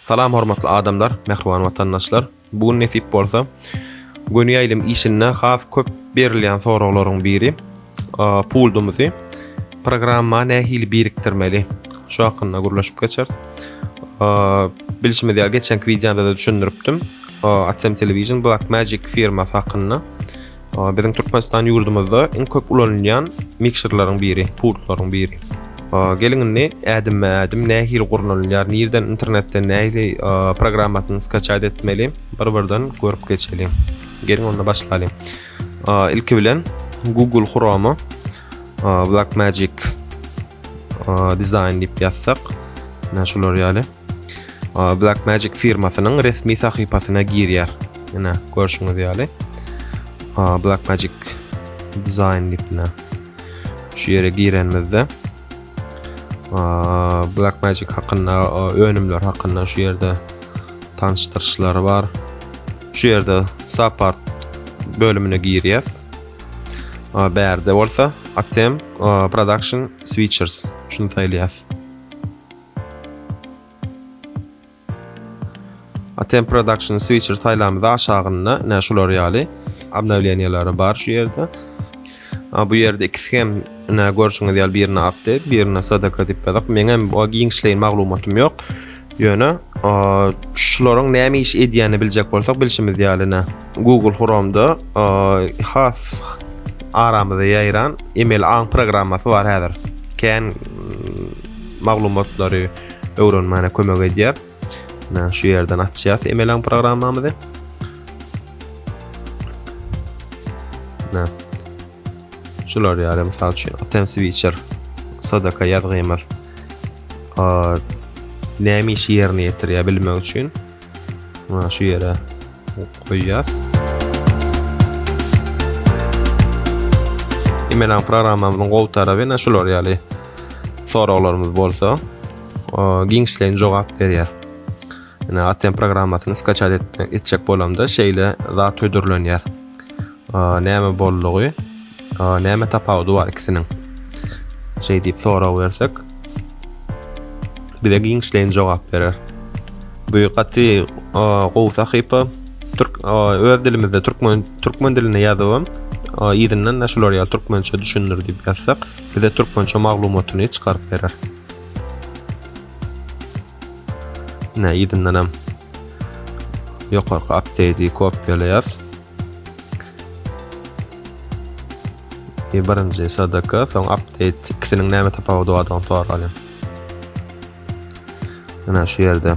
Salam hormatly adamlar, mähriban watandaşlar! Bu gün nesip bolsa, göni ýaýlym işinde has köp berilýän soraglaryň biri, puldumyzy programma nähili birikdirmeli? Şu hakynda gürleşip geçeris. Bilşimiz ýaly, geçenki wideomda-da düşündiripdim, AdSense Television, Blackmagic firmasy hakynda. Biziň Türkmenistan ýurdumyzda iň köp ulanylýan mikserleriň biri, pultlaryň biri. Geliň indi ädimme-ädim nähili gurnalýar, nirden internetden nähili programmasyny skaçat etmeli, bir-birden görüp geçeliň. Geliň onda başlalyň. Ilki bilen Google Chrome Black Magic dizaýn diýip ýazsak, näme şolar ýaly. Blackmagic firmasynyň resmi sahypasyna girýär. Ýene görşüňiz ýaly. Blackmagic Design diýipne. Şu ýere girenimizde Blackmagic hakynda, önümler hakynda şu ýerde tanşdyryşlary bar. Şu ýerde support bölümine girýäs. Bärde bolsa Atem Production Switchers şunu saýlaýas. Atem production switcher saýlamyzy aşagynda ine şular ýaly obnowleniýalary bar şu ýerde. A bu ýerde ikisi hem ine görşüňiz ýaly birine update, birine sadaka diýip ýazak. Meň hem o giňişleýin maglumatym ýok. Ýöne şularyň näme iş edýänini biljek bolsak bilşimiz ýaly ine Google Chrome'da has aramyza ýaýran email aň programmasy bar häzir. Kän maglumatlary öwrenmäne kömek edýär. Näme şu ýerden açýas emelen programmamyzy. Nä. Şular ýaly mysal üçin Atem Switcher sadaka ýazgymyz. Näme işi ýerine ýetirýär bilmek üçin Mana şu ýere goýýas. Email programmamyzyň gowy taraby näme şular ýaly soraglarymyz bolsa, giňişleýin jogap berýär. Ýa ATM programmasyny skaçat etjek bolamda şeýle zat hödürlenýär. Näme boldugy? Näme tapawudy bar ikisiniň? Şeý diýip sorag bersek, bize giňişleýin jogap berer. Bu gaty gowy sahypa. Türk öz dilimizde türkmen türkmen dilinde ýazyp, yzyndan da şular ýaly türkmençe düşündir diýip ýazsak, bize türkmençe maglumatyny çykaryp berer. Ine yzyndan hem ýokarky update-i kopýalaýas. Ýe birinji SDK, soň update ikisiniň näme tapawudy bardygyny soralýar. Ine şu ýerde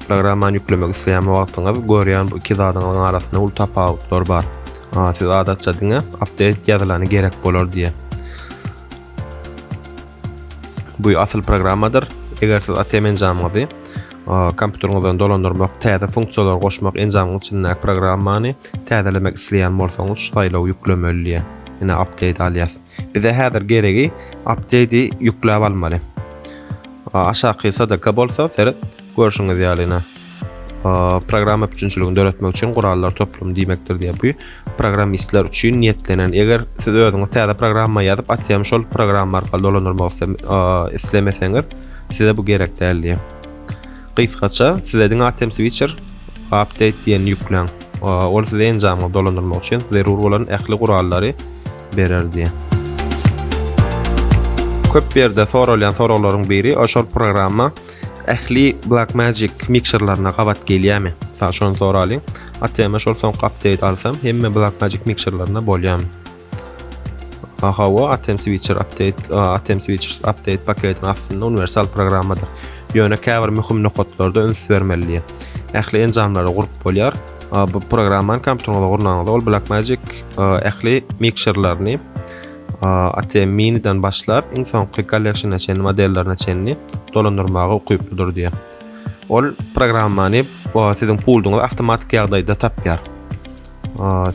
programmany ýüklemek isleýän wagtyňyz görýän bu iki zadyňyň arasynda uly tapawutlar bar. Siz adatça diňe update ýazylany gerek bolar diýýär. Bu asyl programmadyr. Eger siz ATM enjamyňyzy kompýuteriňizden dolandyrmak, täze funksiýalary goşmak, enjamyň içindäki programmany täzelemek isleýän bolsaňyz, şu saýlawy ýüklemeli diýýär. Ine update alýas. Bize häzir geregi update-i ýükläp almaly. Aşaky sadaka bolsa seret Görşüňiz ýalyna, programma üpjünçiligini döretmek üçin gurallar toplumy diýmekdir diýýär. Bu programmistler üçin niýetlenen. Eger siz özüňiz täze programma ýazyp, ATM şol programma arkaly dolandyrmak islemeseňiz, size bu gerek däl diýýär. Gysgaça, size diňe ATM Switcher Update diýen ýükläň. Ol size enjamy dolandyrmak üçin zerur bolan ähli gurallary berer diýýär. köp ýerde soralýan soraglaryň biri, şol programma Ähli Black Magic mikserlerine gabat gelýärmi? Mysal şony soralyň. Atema şol soňky update alsam, hemme Black Magic mikserlerine bolýarmy? Aha, o Atem Switcher update, Atem Switchers update paketiniň aslynda universal programmadyr. Ýöne käbir möhüm nokatlarda üns bermelidir. Ähli enjamlary gurup bolýar. Bu programmany kompýuteriňize gurnanyňyzda ol Blackmagic ähli mikserlerini ATM Mini-den başlap, iň soňky Collection-a çenli modellerine çenli dolandyrmaga ukyplydyr diýýär. Ol programmany siziň pulduňyzy awtomatik ýagdaýda tapýar.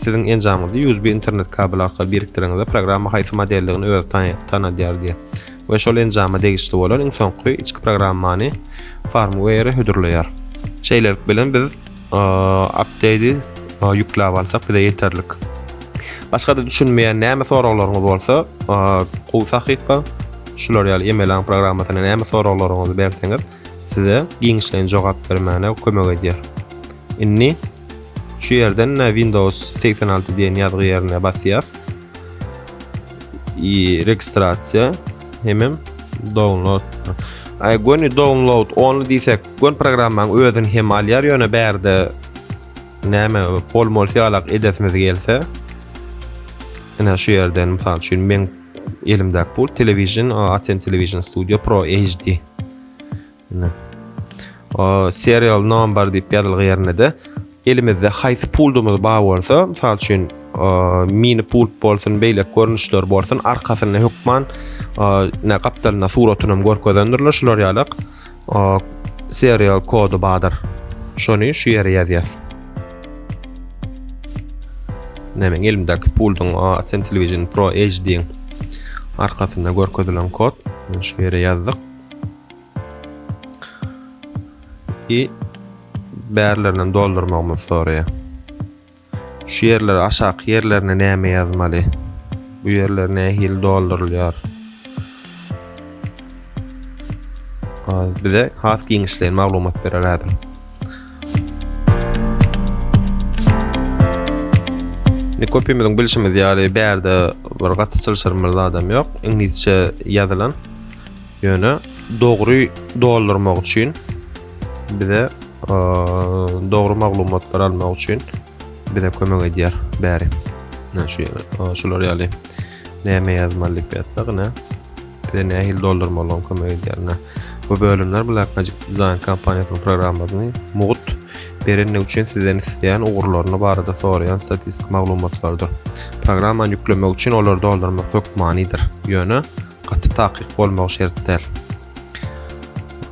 Siziň enjamyňyzy USB internet kabeli arkaly birikdireňizde programma haýsy modeldigini özi tanadýar diýýär we şol enjama degişli bolan iň soňky içki programmany farmware hödürleýär. Şeýlelik bilen biz Update-i ýükläp alsak bize ýeterlik. Başga-da düşünmeýän näme soraglaryňyz bolsa, gowy sahypa, şular ýaly Emelaň programmasyna näme soraglaryňyzy berseňiz, size giňişleýin jogap bermäne kömek edýär. Indi şu ýerden Windows 86 diýen ýazgy ýerine basýas. i registrasiýa hemem download. Ay göni download only diýsek, gön programmaň özüni hem alýar, ýöne bärde näme bol mol syýalak edesimiz gelse, ine şu ýerden mysal üçin men elimdäki bu Television Atem Television Studio Pro HD. Ine. O serial number diýip ýazylgy ýerinde-de elimizde haýsy puldumyz bar bolsa, mysal üçin, mini pult bolsun, beýleki görnüşler bolsun, arkasynda hökman ne gapdalynda suratyny hem görkezendirler şular ýalak. Serial kody bardyr. Şony şu ýere ýazýas. Nämen elimdäki pulduň Asen Television Pro HD-iň arkasynda görkezilen kod. Şu ýere ýazdyk. I bärlerinden doldurmagymyzy soraýar. Şu ýerlere aşaky ýerlerine näme ýazmaly? Bu ýerler nähili doldurylýar? Bize has giňişleýin maglumat berer häzir. Indi köpimiziň bilşimiz ýaly bärde bir gaty çylşyrymly zadam ýok. Iňlisçe ýazylan. Ýöne dogry doldurmak üçin bize dogry maglumatlary almak üçin bize kömek edýär bäri. Ne şu şular ýaly näme ýazmaly diýip ýazsak, ne bize nähili doldurmalygyny kömek edýär. Bu bölümler Blackmagic Design kompaniýasynyň programmasyny mugt berendigi üçin sizden isleýän ugurlaryny barada soraýan statistik maglumatlardyr. Programmany ýüklemek üçin olary doldurmak hökmanydyr. Ýöne gaty takyk bolmagy şert däl.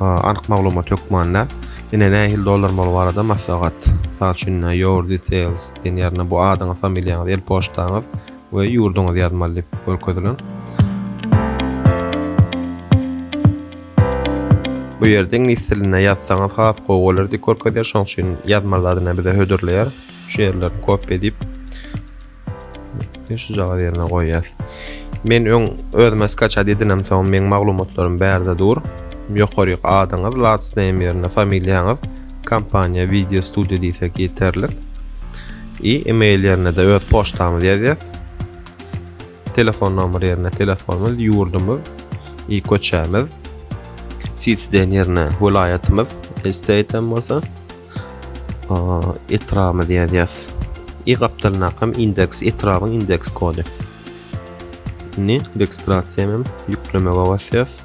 Anyk maglumat hökmanda ine nähili dolanmaly barada maslahat. Mysal üçin your details diýen ýerine bu adyňyz, familiýaňyz, el poçtaňyz we ýurduňyzy ýazmaly diýip görkezilen. Bu ýerde iňlis dilinde ýazsaňyz has gowy bolar diýip görkezýär. Şonuň üçin ýazma zadyny bize hödürleýär. Şu ýerleri kopiýa edip Şu jagaz ýerine goýýas. Men öň özüme skaçat edinem soň meň maglumatlarym bärde dur. Ýokaryk adyňyz, last name ýerine familiýaňyz, kompaniýa video studio diýsek ýeterlik. I email ýerine-de öz poçtamyzy ýazýas. Telefon nomer ýerine telefonymyz, ýurdumyz, i köçämiz. City den ýerine welaýatymyz, state hem bolsa. etrabymyzy ýazýas. Y gapdalyndakam indeks etrabyň indeks kody. Indi registrasiýa hem ýüklemege basýas.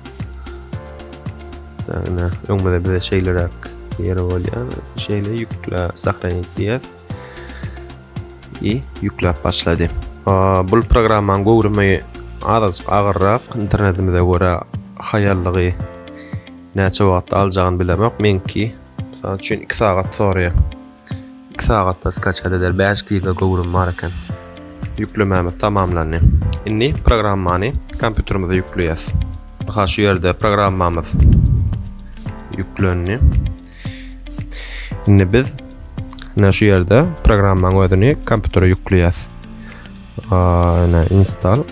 Yani öňde bize şeýleräk ýeri bolýar. Şeýle ýükle sahranit diýýäs. I ýükläp başlady. Bul programmanyň göwrümi azajyk agyrrak, internetimize görä haýallygy näçe wagt aljagyny bilemok. Meňki Mysal üçin 2 sagat soraýar. 2 sagatda skaçat eder 5 giga göwrüm bar eken. Ýüklemämiz tamamlandy. Indi programmany kompýuterimize ýükleýäs. Ha şu ýerde programmamyz ýüklendi. Indi biz ne şu ýerde programmaň özüni kompýutere ýükleýäs. Ana install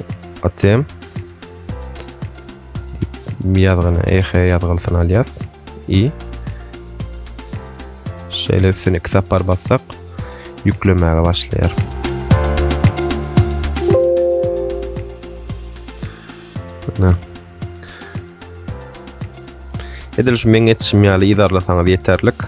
atem ýazgyny ehe ýazgylsyny alýas. i. Şeýle üstüne iki sapar bassak, ýüklemäge başlaýar. Ana. Edil şu meň etişim ýaly ýazarlasaňyz ýeterlik.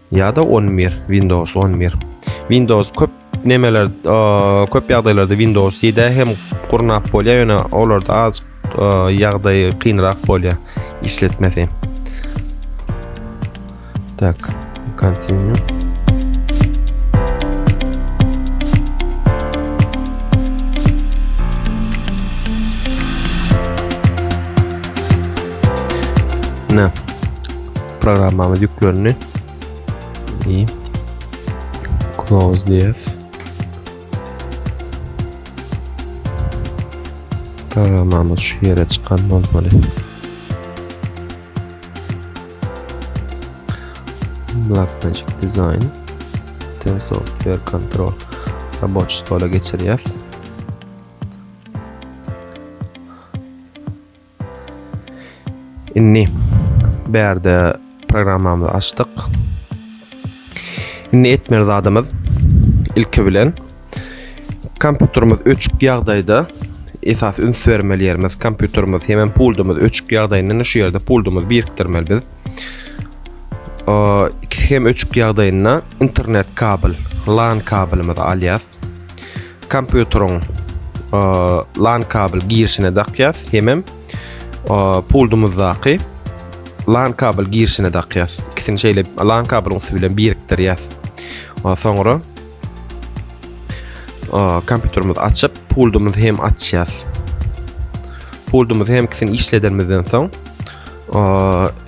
Ýa-da on bir, Windows on bir. Windows köp nemeler, köp ýagdaýlarda Windows ýedi hem gurnap bolýar, ýöne olarda az ýagdaýy kynrak bolýar işletmesi. Tak, continue. Ne? programmamyz yüklendi. İyi. Close this. Programmamız şu yere çıkan olmalı. Black Magic Design Ten Software Control Robot stola geçireceğiz. Indi bärde programmamyzy açdyk. Indi etmeli zadymyz ilki bilen kompýuterimiz öçük ýagdaýda esas üns bermeli ýerimiz kompýuterimiz hem puldumyz öçük ýagdaýynda şu ýerde puldumyzy birikdirmeli biz. Ikisi hem öçük ýagdaýynda internet kabel, LAN kabelimizi alýas. kompýuteriň e, LAN kabel girişine dakýas, hemem e, puldumyzdaky LAN kabel girişine dakýas. İkisini şeýle LAN kabel usully bilen birikdirýäs. E, soňra kompýuterimizi açyp, puldumyzy hem açýas. Puldumyzy hem ikisini işledenimizden soň,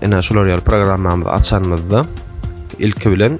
ene şular ýaly programmamyzy açanymyzda ilki bilen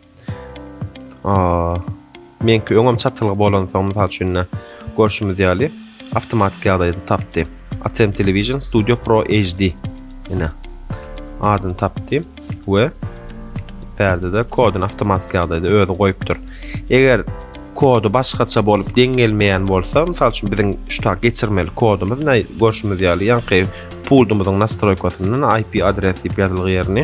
Meňki öňem çatylgy bolansoň, mysal üçin-de, görşümiz ýaly, awtomatik ýagdaýda tapdy. Atem Television Studio Pro HD. Ine. Adyny tapdy we bärde-de koduny awtomatik ýagdaýda özi goýupdyr. Eger kody başgaça bolup deň gelmeýän bolsa, mysal üçin biziň şu tak geçirmeli kodumyz näi görşümiz ýaly ýaňky pultumyzyň nastroýkasyndan IP adres diýip ýazylgy ýerini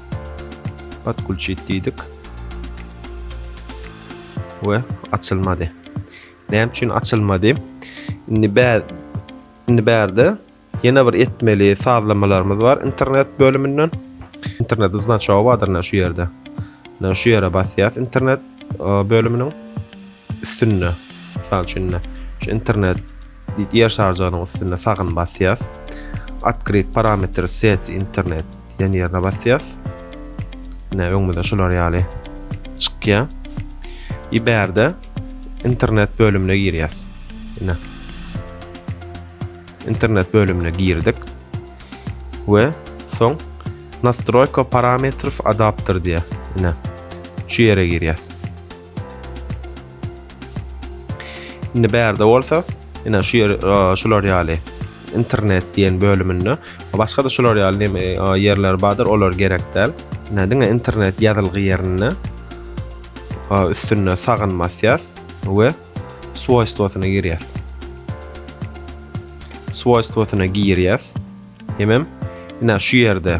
Podkulçit diýdik. We açylmady. Näme üçin açylmady? Indi bär indi bärde ýene bir etmeli sazlamalarymyz bar internet bölüminden. İnternet znaçogy bardyr şu ýerde. Mine şu ýere basýas internet bölüminiň üstünde. Mysal üçin şu internet Ýer şarjygynyň üstünde sagyny basýas. Otkryt parametr seti internet diýen ýerine basýas. Ine öňümizde şular ýaly çykýa. I bärde internet bölümine girýas. Ine. Internet bölümine girdik. We soň nastroýka parametrów adapter diýe. Ine. Şu ýere girýas. Indi bärde bolsa, ina şu ýer şular ýaly internet diýen bölüminde başga da şular ýaly ýerler bardyr, olar gerek däl. Ina diňe internet ýazylgy ýerinde üstünde sagyn basýas we swoýstwosyna girýäs. Swoýstwosyna girýäs. Hemem ina şu ýerde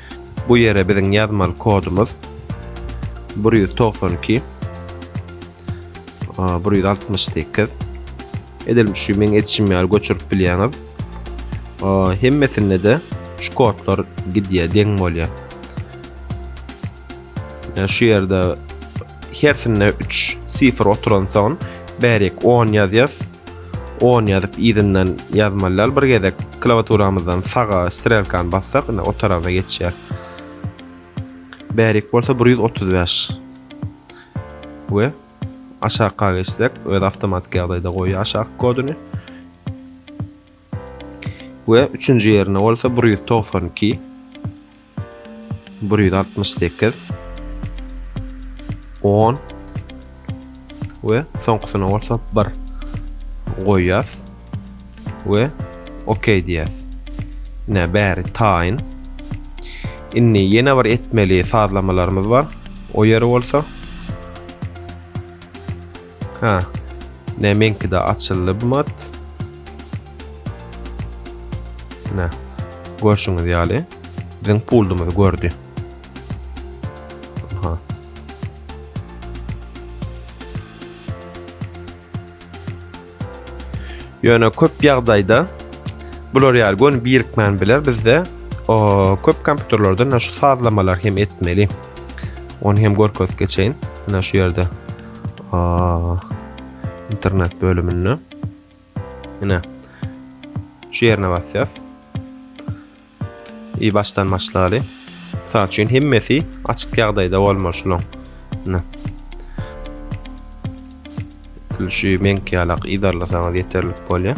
Bu ýere biziň ýazmaly kodumyz bir ýüz togsan iki bir ýüz altmyş sekiz edil şu meň edişim ýaly göçürip bilýäňiz hemmesinde de şu kodlar gidýär deň bolýar şu ýerde hersinde üç sifr oturan soň bärik on ýazýas On ýazyp yzyndan ýazmaly dal bir gezek klawaturamyzdan saga strelkany bassak ine o taraza geçýär. Bärik bolsa bir ýüz otuz bäş. We aşakga geçsek öz awtomatik ýagdaýda goýýar aşaky koduny. We üçünji ýerine bolsa bir ýüz togsan iki. Bir ýüz altmyş sekiz On we soňkusyna bolsa bir goýýas we OK diýýäs. Ine bäri taýyn. Indi ýene bir etmeli sazlamalarymyz bar. O ýeri bolsa Ha. Ne meňki de açyldy bu mat. Ne. Görşüňiz ýaly. Biziň puldumyzy gördi. Ha. Ýöne köp ýagdaýda bular ýaly gönüp birikmän biler bizde o köp kompýuterlerde şu sazlamalar hem etmeli. Onu hem görkezip geçeýin. Ana şu ýerde. Internet bölüminde. Ine. Şu yerine basýas. İyi başdan başlaly. Misal üçin hemmesi açyk ýagdaýda bolmaly şulaň. Ine. Şu meňki ýalak idarlasaňyz ýeterlik bolýar.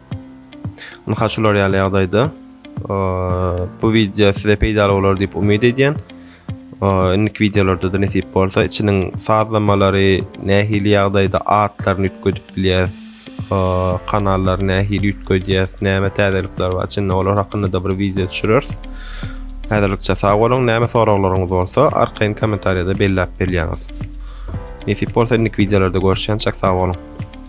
Ynha şular ýaly ýagdaýda bu wideo size peýdaly bolar diýip umyt edýän. Indiki wideolarda-da nesip bolsa içiniň sazlamalary nähili ýagdaýda atlaryny üýtgedip bilýäs, kanallary nähili üýtgedýäs, näme täzelikler bar içinde olar hakynda-da bir wideo düşüreris. Häzirlikçe sag boluň, näme soraglaryňyz bolsa arkaýyn kommentariýada belläp bilýäňiz. Nesip bolsa indiki wideolarda görüşýänçäk sag boluň.